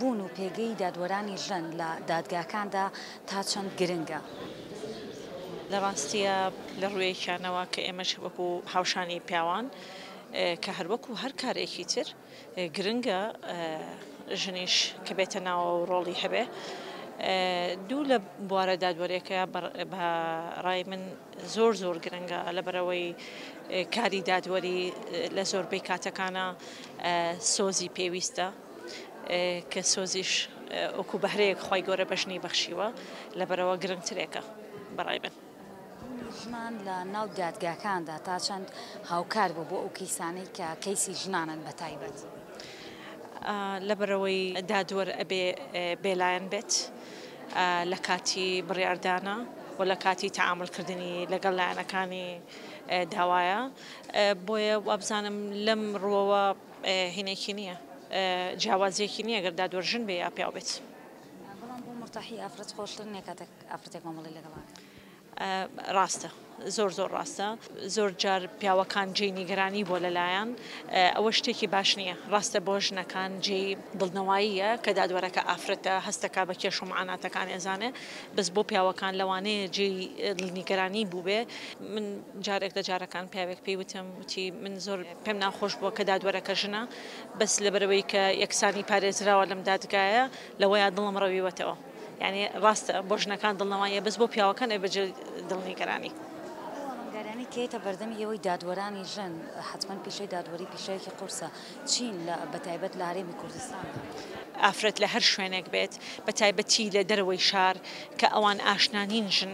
بوون و پێگەی دادوەرانی ژن لە دادگاکاندا تا چەند گرنگە؟ لە ڕاستییا لە ڕوویەکیانەوە کە ئێمەش وەکو هاوشانی پیاوان کە هەر وەکو هەر کارێکی تر گرنگە ژنیش کە بێتە ناوەوە و ڕۆڵی هەبێ دوو لە بوارە دادوەریەکە بە ڕای من زۆر زۆر گرنگە لە بەرەوەی کاری دادوەری لە زۆربەی کاتەکانە سۆزی پێویستە. کە سۆزیش وەکو بەهرەیەک خوای گەورە بە ژنی بەخشیوە لەبەرەوە گرنگترێکە بەڕای من. ڕۆڵی ژنان لە ناو دادگاکاندا تا چەند هاوکار بوو بۆ ئەو کەیسانەی کە کەیسی ژنانن بە تایبەت؟ لەبەرەوەی دادوەر ئەبێ بێلایەن بێت لە کاتی بڕیاردانا و لە کاتی تەعامول کردنی لەگەڵ لایەنەکانی داوایە بۆیە وابزانم لەم ڕووەوە هینێکی نیە جیاوازیەکی نیە گەر دادوەر ژن بێ یا پیاو بێت. بەڵام بۆ مورتاحی ئافرەت خۆشتر نیە کاتێک ئافرەتێک مامەڵەی لەگەڵا ئەکا. ڕاستە زۆر زۆر ڕاستە زۆر جار پیاوەکان جێی نیگەرانی بۆ لەلایان ئەوە شتێکی باش نییە ڕاستە بۆ ژنەکان جێی دڵنەواییە کە دادوەرەکە ئافرەتە هەستەکە بە کێش و معاناتەکان ئێزانێ بەس بۆ پیاوەکان لەوانەیە جێی نیگەرانی بووبێ من جارێک لە جارەکان پیاوێک پێی وتم وتی من زۆر پێم ناخۆش بووە کە دادوەرەکە ژنە، بەس لەبەرئەوەی کە یەکسانی پارێزراوە لەم دادگایە لەوەیە دڵم ڕەویوەتەوە، یانی ڕاستە بۆ ژنەکان دڵنەواییە بەس بۆ پیاوەکان ئەبێت جێ دڵنیگەرانی. ئەو ئاڵنگاریانەی کە یەتە بەردەم ئێوەی دادوەرانی ژن، حەتمەن پیشەی دادوەری پیشەیەکی قورسە، چین لە بە تایبەت لە هەرێمی کوردستان دا؟ ئافرەت لە هەر شوێنێک بێت بە تایبەتی لە دەرەوەی شار کە ئەوان ئاشنا نین ژن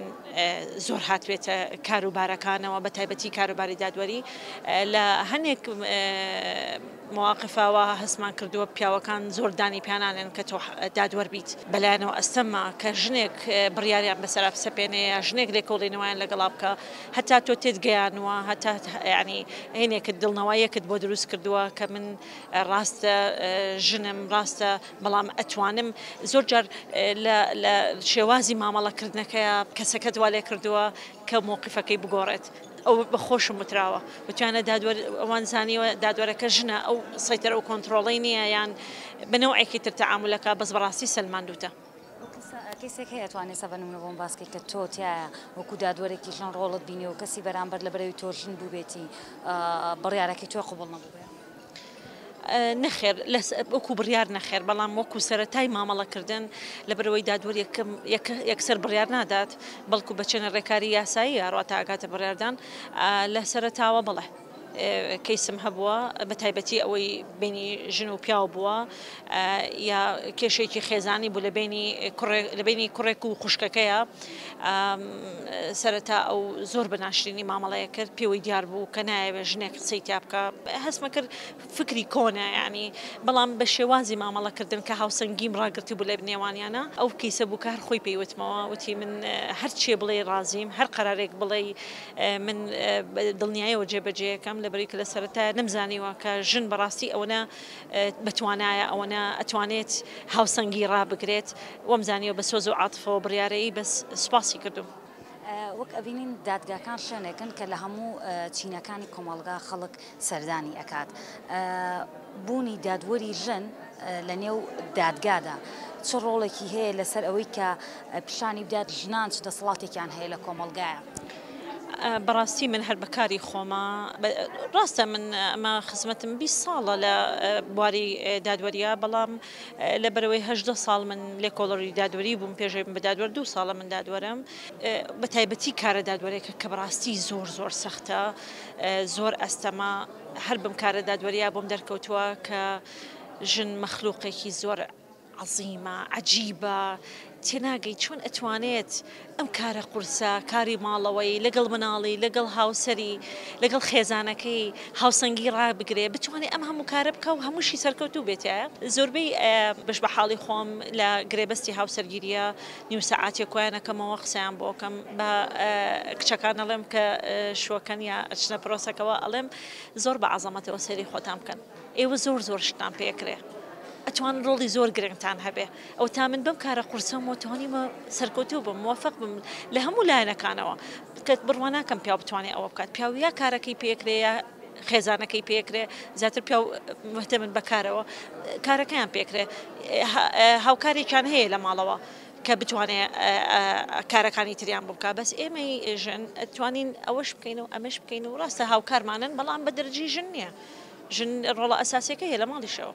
زۆر هاتبێتە کاروبارەکانەوە بە تایبەتی کاروباری دادوەری لە هەنێک مواقفەوە هەستمان کردووە پیاوەکان زۆر دانی پیانانێن کە تۆ دادوەر بیت بەلایەنەوە ئەستەمە کە ژنێک بڕیاریان بەسەر سەپێنەیە ژنێک لێکۆڵینەوەیان لەگەڵا بکە هەتا تۆ تێت گەیانوە هەتا ینی هێنێکت دڵنەوەیەکت بۆ دروست کردووە کە من ڕاستە ژنم ڕاستە بەڵام ئەتوانم زۆر جار لە لە شێوازی مامەڵە کردنەکەیا کەسەکەت وا لێ کردووە کە مەوقیفەکەی بگۆڕێت ئەو بە خۆشم وتراوە وتویانە دادوەر ئەوان زانیوە دادوەرەکە ژنە ئەو سەیتەرە و کۆنتڕۆڵی نییە یان بە نەوعێکی تر تەعامولەکە بەس بەڕاستی سەلماندووتە. کەیسێک هەیە توانێ سە بە نمونە بۆم باس کەی کە تۆ تیایا وەکو دادوەرێکی ژن ڕۆڵت بینی و کەسی بەرامبەر لە بەرەوی تۆ ژن بووبێتی بڕیارەکەی تۆی قبوڵ نەبووبێ؟ نەخێر وەکو بڕیار نەخێر بەڵام وەکو سەرەتای مامەڵەکردن لەبەرەوەی دادوەر یەکسەر بڕیار نادات بەڵکو بە چەنە ڕێکاری یاساییە ڕاتە ئاکاتە بڕیاردان لە سەرەتاوە بڵێ کەیسم هەبووە بە تایبەتی ئەوەی بینی ژن و پیاو بووە یا کێشێکی خێزانی بوو لە بینی لە بینی کوڕێک و خوشکەکەیە سەرەتا ئەو زۆر بە ناشرینی مامەڵەیە کرد پێوەی دیار بوو کە نایەوێ ژنێک قسەی تیا بکە هەستمە کرد فکری کۆنە ینی بەڵام بە شێوازی مامەڵەکردن کە هاوسەنگیم ڕاگرتی بوو لە بنێوانیانە ئەو کەیسە بوو کە هەر خۆی پێیوتمەوە وتی من هەر چێ بڵێ ڕازیم هەر قەرارێک بڵێ من دڵنیایەوە جێبەجێەکەم لەبری کە لە سەرەتا نەمزانیوە کە ژن بەڕاستی ئەوەنە بەتوانایە ئەوەنە ئەتوانێت هاوسەنگی ڕابگرێت وەمزانیەوە بە سۆز و عاتفەوە بڕیارەیی بەس سوپاسی کردووم. وەک ئەبینین دادگاکان شوێنێکن کە لە هەموو چینەکانی کۆمەڵگا خەڵک سەردانی ئەکات بوونی دادوەری ژن لە نێو دادگادا چ ڕۆڵێکی هەیە لەسەر ئەوەی کە پیشانی بدات ژنان چ دەسەڵاتێکیان هەیە لە کۆمەڵگایە؟ بەڕاستی من هەر بەکاری خۆمە ڕاستە من ئەمە خزمەتم بی ساڵە لە بواری دادوەریا بەڵام لە بەرەوەی هەدە ساڵ من لێکۆڵەری دادوەری بووم پێشێ بە دادوەر دوو ساڵە من دادوەرم بە تایبەتی کارە دادوەرێکە کە بەڕاستی زۆر زۆر سەختە زۆر ئەستەما هەر بم کارە دادوەریا بۆم دەرکەوتووە کە ژن مەخلوقێکی زۆرە. عەزیمە عەجیبە تێناگەی چۆن ئەتوانێت ئەم کارە قورسە کاری ماڵەوەی لەگەڵ مناڵی لەگەڵ هاوسەری لەگەڵ خێزانەکەی هاوسەنگی ڕابگرێ بتوانێ ئەم هەموو کارە بکە و هەمووشی سەرکەوتوو بێتە زۆربەی بەش بە حاڵی خۆم لە گرێبەستی هاوسەرگیریە نیو سەعاتێ کۆیانەکەمەوە قسەیان بۆکەم بە کچەکان ئەڵێم کە شوەکەن یا ئەچنە پرۆسەکەەوە ئەڵێم زۆر بە عەزەمەتەوە سەری خۆتان بکەن ئێوە زۆر زۆر شتتان پێ ئەکرێ ئەتوان ڕۆڵی زۆر گرنگتان هەبێ ئەو تا من بەم کارە قورسەمەوە توانیمە سەرکەوتوو بم موفق بم لە هەموو لایەنەکانەوە کەت بڕوا ناکەم پیاو بتوانێت ئەوە بکات پیاویا کارەکەی پێکرێە خێزانەکەی پێکرێ زیاتر پیا مهتە من بەکارەوە کارەکەیان پێکرێ هاوکارێکیان هەیە لە ماڵەوە کە بتوانێت کارەکانی تریان بکە بەس ئێمەی ژن توانین ئەوەش بکەین و ئەمەش بکەین و ڕاستە هاوکارمانن بەڵام بە دەرجی ژن نییە. ژن ڕۆڵە ئەساسیەکەی هەیە لە ماڵیشەوە.